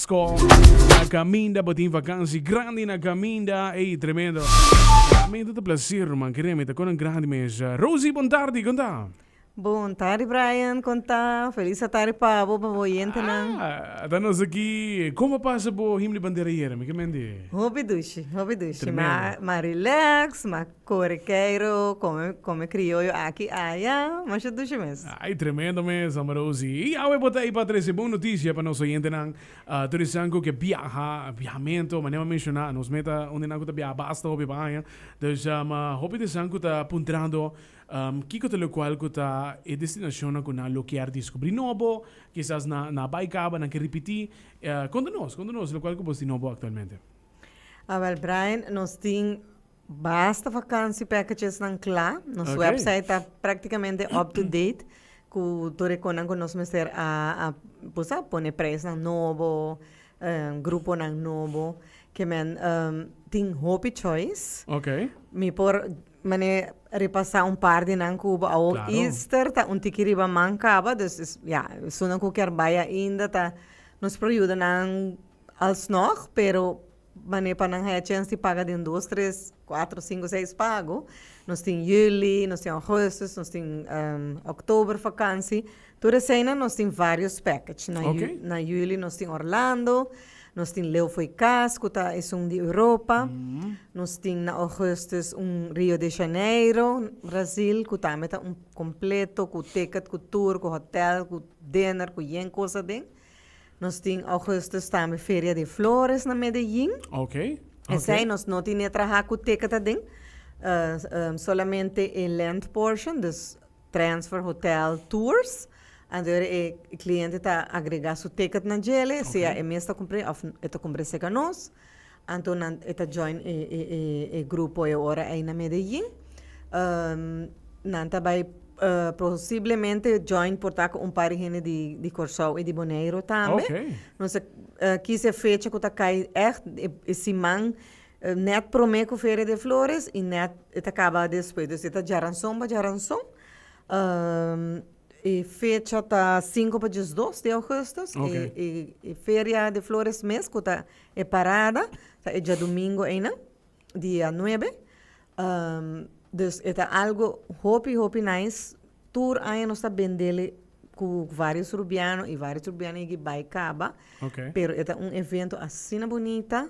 Sco na caminda bo tin vakansi grandi na caminda ey tremendo realmente ta placer man keremi ta conan grandi mes Rosie bon tardi con ta. Bon tardi Brian con ta feliz atari pa bo pa bo oyentenan. Ah ta nos aki con a pasa bo him di bandera yera mi ke men di. Hopi dushi hopi dushi ma ma relax ma. Kore Keiro, kome kome krioyo aki aya, masha dushi mes. Ay tremendo mes Ame Rosi. Y Yahweh bo ta ey pa trece bon noticia pa nos oyentenan. Tur esan cu ke biaha, biahamento, manera bo menciona, nos meta unda nan cu ta biaha basta hopi pa aña. Dus hopi di esan cu ta puntrando kico ta locual cu ta e destinacionnan cu nan lo kier descubri nobo, kisas nan nan a bay caba, nan ke ripiti. Conta nos, conta nos locual cu bo tin nobo actualmente. Awel Brian, nos tin. Basta vakansi packagesnan kla. Nos Oké. website ta práktikamente up to date ku tur e konan ku nos mester a a bo sa pone preisnan nobo, em, gruponan nobo. Ke men em, tin hopi choice. Oké. Mi por mane repasá un par di nan ku bo a wou. Klaro. Easter ta un tiki riba man kaba, dus es ya esunnan ku kier bai ainda ta nos por yuda nan alsnog, pero Manera pa nan haya chens di paga den dos, tres, cuatro, cinco, seis pago, nos tin juli, nos tin augustus, nos tin october vakantie. Tur eseinan nos tin varios package. Na ju- Ok. na juli nos tin Orlando, nos tin Leeuw Fooi Kas, cu ta esun di Europa. Nos tin na augustus un Rio de Janeiro, Brazil, cu tambe ta un completo, cu ticket, cu tur, cu hotel, cu dinner, cu yen cosa aden. Nos tin Augustus tambe Feria de Flores na Medellin. Ok. Esei nos no tin e traha ku ticket aden. Uh, um, solamente e land portion, dus transfer hotel tours. Andoor e cliente ta agrega su ticket na djele, sea e mes ta compre of e ta compre seca nos. Anto nan e ta join e grupo e ora ei na Medellin. Nan ta bai posiblemente join por ta cu un par di hende di Corsou y di Boneiru tambe. Nos a kis e fecha cu ta cay echt e siman net prome cu Feria de Flores y net e ta caba despues. Dus e ta djaranzon pa djaranzon. E fecha ta sinku pa diesdos di augustus. E Feria de Flores mes cu ta E parada ta e djadumingo einan, dia nuebe. dus e ta algu hopi, hopi nice. Tur aña nos ta bendele ku vários rubiano i vários rubiano yegi bai kaba. Ok. Pero e ta un evento asina bunita.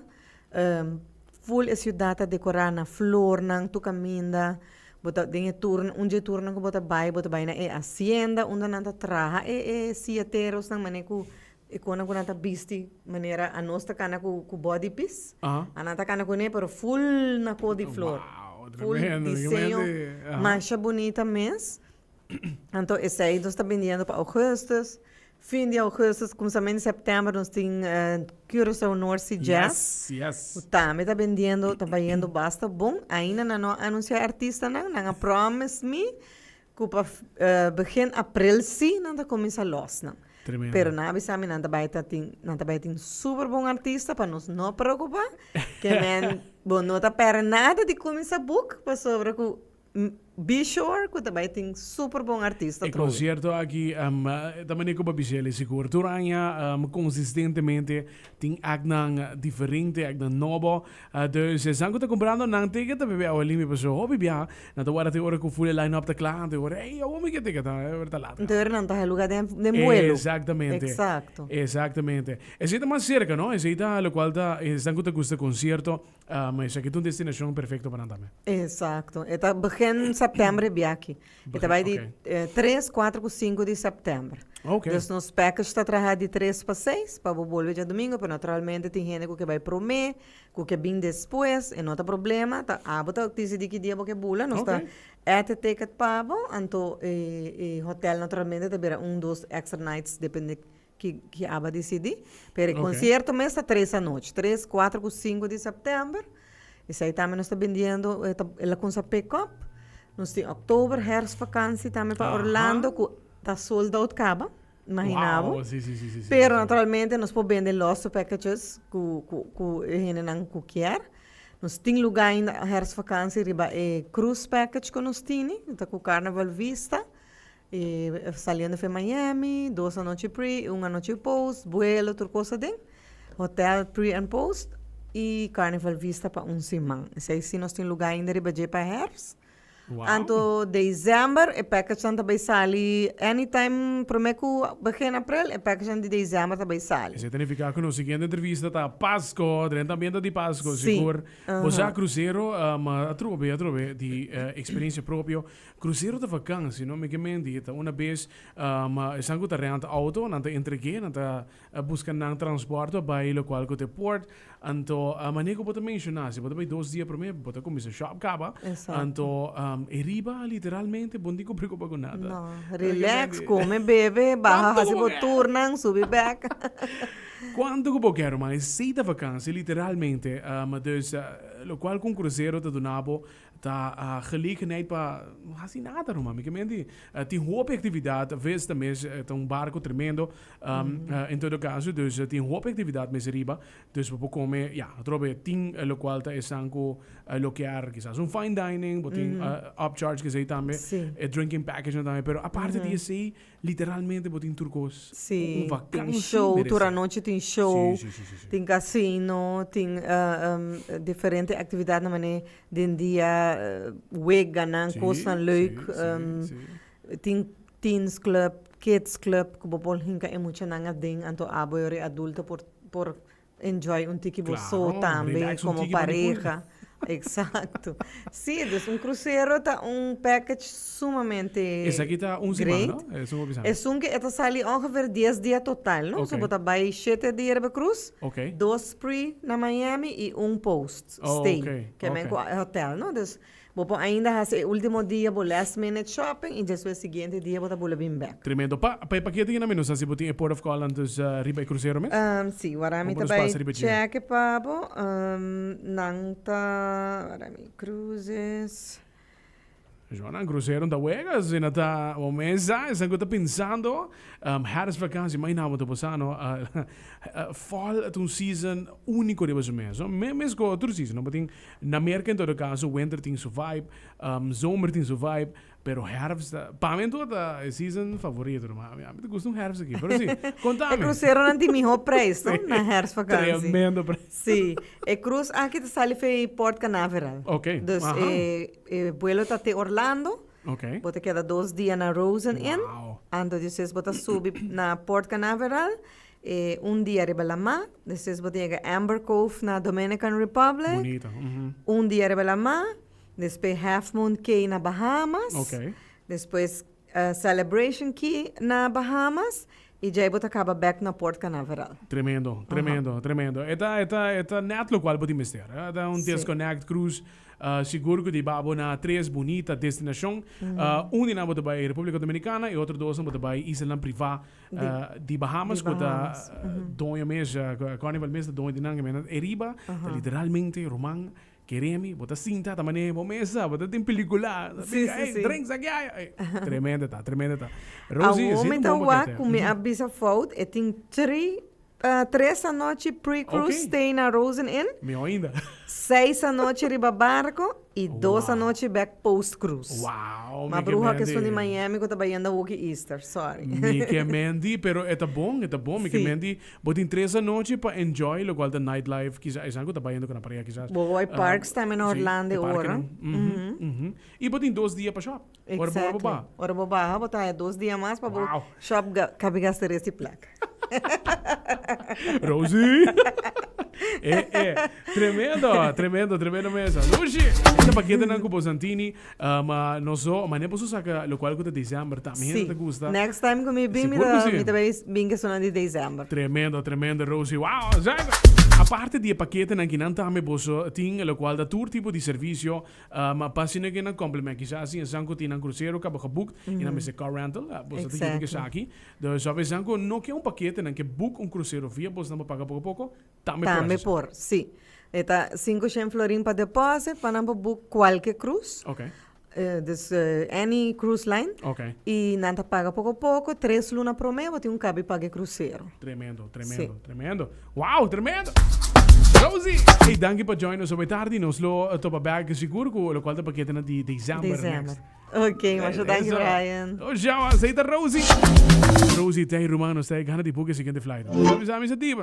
ful e siudat ta dekorá na flornan tur kaminda. Bo ta den e tur, un dje turnan ku bo ta bai, bo ta bai na e hasienda unda nan ta traha e e siaterosnan manera ku E konan ku nan ta bisti manera anos ta kana ku body pis, a nan ta kana kuné pero ful na ko di flor, ful diseño masha bunita mes. Anto esei nos ta bindiendo pa augustus, fin di augustus kumsamento di september nos tin Curaçao North Sea Jazz ku tambe ta bindiendo ta bayendo basta bon ainda nan no a anunsia e artistanan, nan a promise mi Cu pa begin april si nan ta cuminsa los nan. Pero nan a bisa mi nan ta bay ta tin, nan ta bay tin super bon artista pa nos no preocupa. Ke men bo no ta perde nada di cuminsa boek pasobra cu be sure cu ta bay tin super bon artista trohe. E concierto aki ta mane cu bo a bisa el e sigur. Tur aña, consistentemente tin actnan diferente, actnan nobo. Dus esan ku ta kumprando nan tiket ta pipia awa limpi pasobra hopi biaha nan ta warda te ora ku fule line-up ta kla antes hora ey awor mi ke tiket ta ora ta lat. Deur nan ta haluga den den buelo. Exactamente. Exacto. Exactamente. Esey ta mas cerca no esey ta locual ta esan ku ta gusta concierto esaki ta un destinacion perfecto pa nan tambe. Exacto. E ta begin september e biaha aki. E ta bai di tres, kuater ku sinku di sèptèmber. Dus nos package ta traha di tres pa seis pa bo bolbe dja domingo, pero naturalmente tin hende ku ke bai promé, ku ke bin despues, e no ta problema, ta abo ta disidí ki dia bo ke bula, nos ta èt e ticket pa bo, anto e hotèl naturalmente ta bira un dos extra nights depende ki ki aba disidi pero e Ok. concierto mes ta tres anochi tres cuatro cu cinco di september esai tambe nos ta bindiendo e ta el a cuns a pick up nos tin october herfst vakantie tambe pa Aha. orlando cu ta sold out caba imagina bo Wow, sí, sí, sí, sí, sí, pero sí. naturalmente nos por bende los su packages cu cu cu e hendenan cu kier nos tin luga ainda herfst vakantie riba e cruise package cu nos tini ta cu carnaval vista E saliendo f'e Miami, dos anochi pre i un anochi post, buelo, tur cosa den hotel pre and post i Carnival Vista pa un siman. Esei si nos tin lugá ainda riba dje pa hèrs. Wow. Anto December e package-nan ta bay sali anytime promé ku begin April e package-nan di December ta bay sali. Esei ta nifiká ku nos siguiente entrevista ta Pasko, dren tambiente di Pasko, Sí. sigur. Bo sa Aha. krusero, ma atrobe, atrobe di eh, eksperensia propio. Crucero ta vakansi no mi ke menti e ta una bes ma esan ku ta renta outo nan ta entreg'é nan ta buska nan transport pa bai lokual ku ta e port anto mane ku bo ta menshoná si bo ta bai dos dia promé bo ta kuminsá shòp kaba anto e riba literalmente bo nin ku preokupa ku nada Relax kume bebe baha hasi bo turnan subi bèk kuantu ku bo kè ruman esei ta vakansi literalmente dus lokual ku un crucero ta duna bo Ta gelegenheid pa no hasi nada no mami. Kementi tin hopi actividad, ves ta mes ta un barco tremendo, en todo caso dus tin hopi actividad mes riba, dus bo por come ya atrobe tin locual ta esan cu lokear kisas un fine dining, bo tin upcharge esey tambe, e drinking packagenan tambe, pero aparte di esey Literalmente bo tin tur cos cu un vakantie meresé. Si, tin show, tur anochi tin show, tin casino, tin diferente actividadnan manera den dia, week ganan cosnan leuk, tin teens club, kids club cu bo por hinca e muchanan aden anto abo e ora e adulto por Enjoy un tiki bo so tambe como pareha exacto si dus un crucero ta un package sumamente great esun ke e ta sali ongeveer dies dia total no so bo ta bay shete dia riba cruz dos pre na Miami y un post stay ke men ku hotel no dus Bo por ainda hasi e ultimo dia bo last minute shopping y despues siguiente dia bo ta bula bin bek. Tremendo. Pa, pa e pakiet di Genami nos a si bo tin e port of call antes riba e krusero mes? Umm, si. Warami Hopo ta nos bai pasa riba e tjiga? cheke pa bo. Umm, nan ta, warami, cruises. Joan, nan krusero ta wega asina ta bo mesa. Esan ku ta pensando. Umm, hèrs vakansi, mai nada bo ta bosa no. Fall ta un season úniko riba su mes no. Mes ku otro season no bo tin Na Merca en todo caso winter tin su vibe, zomer tin su vibe, pero herfst ta, pa mi anto ta e season favorito no mas. Ami ta gusta un herfst aki, pero si, contami. E cruceronan tin miho prijs no na herfst vakantie. Si, tremendo prijs. Si, e cruz aki ta sali for Port Canaveral. Ok, aha. Dus e vuelo ta te Orlando. Ok. Bo ta keda dos dia na Rosen Inn. Wao. Anto di eses bo ta subi na Port Canaveral E un dia riba lamar, despues bo ta yega Amber Cove na Dominican Republic. Bonito. mhm. Un dia riba lamar, despues Half Moon Cay na Bahamas. Ok. Despues eh, Celebration Key na Bahamas. I djai bo ta kaba bek na Port Canaveral. Tremendo, tremendo, tremendo. E ta, e ta, e ta net lokual bo tin mester. eh. E ta un Sí. desconnect cruise. eh, sigur ku di babo na tres bunita destinashon. Eh, un di nan bo ta bai Republika Dominikana i otro dos nan bo ta bai islanan privá Ah, di Bahamas, cu ta doño mes, Carnival mes ta doño di nan, e mena e riba, ta literalmente ruman kere mi, bo ta sinta ta manera bo mes sa, bo ta tin pelicula, ey, drinks aki ay, ey, tremendo ta, tremendo ta. Rosie, si e tin bon paket, eh. Awo mi ta wak cu mi a bisa fout, e tin tri Tres anochi pre-cruise stay na Rosen Inn. Mihó ainda. Seis anochi riba barco i dos anochi bek post-cruise. Wow, mi ke Mandi. Ma bruha ke esun di Miami ku ta bayenda woki Easter. Sorry. Mi ke Mandi, pero e ta bon, e ta bon. Mi ke Mandi, bo tin tres anochi pa enjoy lokual ta night life kisa esan ku ta bayenda ku nan pareha kisas. Bo wou hay parks tambe na Orlando e ora. Si, e parkenan. I bo tin dos dia pa shop. Ora bo wak baha. Ora bo baha bo ta haya dos dia mas pa bo shop kabi gasta resi plaka. Rosie. E e. Tremendo, tremendo, tremendo mesa. Lushi, esta pakete nan ku bo santini, uh, ma nos do, ma ne boso saka lo kual ku ta december ta. Mi hende ta gusta. Next time ku mi bin, mi ta mi ta bai bin ke sonan di december. Tremendo, tremendo Rosie. Wow, zaga. Aparte di e pakete nan ki nan tambe boso tin lo kual ta tur tipo di servicio. Ma pa asina ke nan komple mei. Kisas tin esan ku tin nan krusero kaba gebukt i nan mester car rental. Boso ta yubi esaki. Dus of esan ku no ke un pakete nan ke buk un krusero via bos nan por paga poko poko, tambe por hasi su. Tambe por, si. E ta sinku shen florin pa deposit pa nan por buk kualke krus. Okay. Dus any krus line. Okay. I nan ta paga poko poko. Tres luna promé bo tin un kabi pag'e krusero. Tremendo, tremendo, tremendo. Wow, tremendo! Rosie! Ey, danki pa join nos hopi tardi. Nos lo topa bek sigur ku lokual ta paketenan di december next. December. Ok, masha danki Eso. Brian. Oh, Shawa, sa ita Rosie. Rosie, tei ruman, nos ta e gana di buki e siguiente flight. Nos ta bisa misa diba.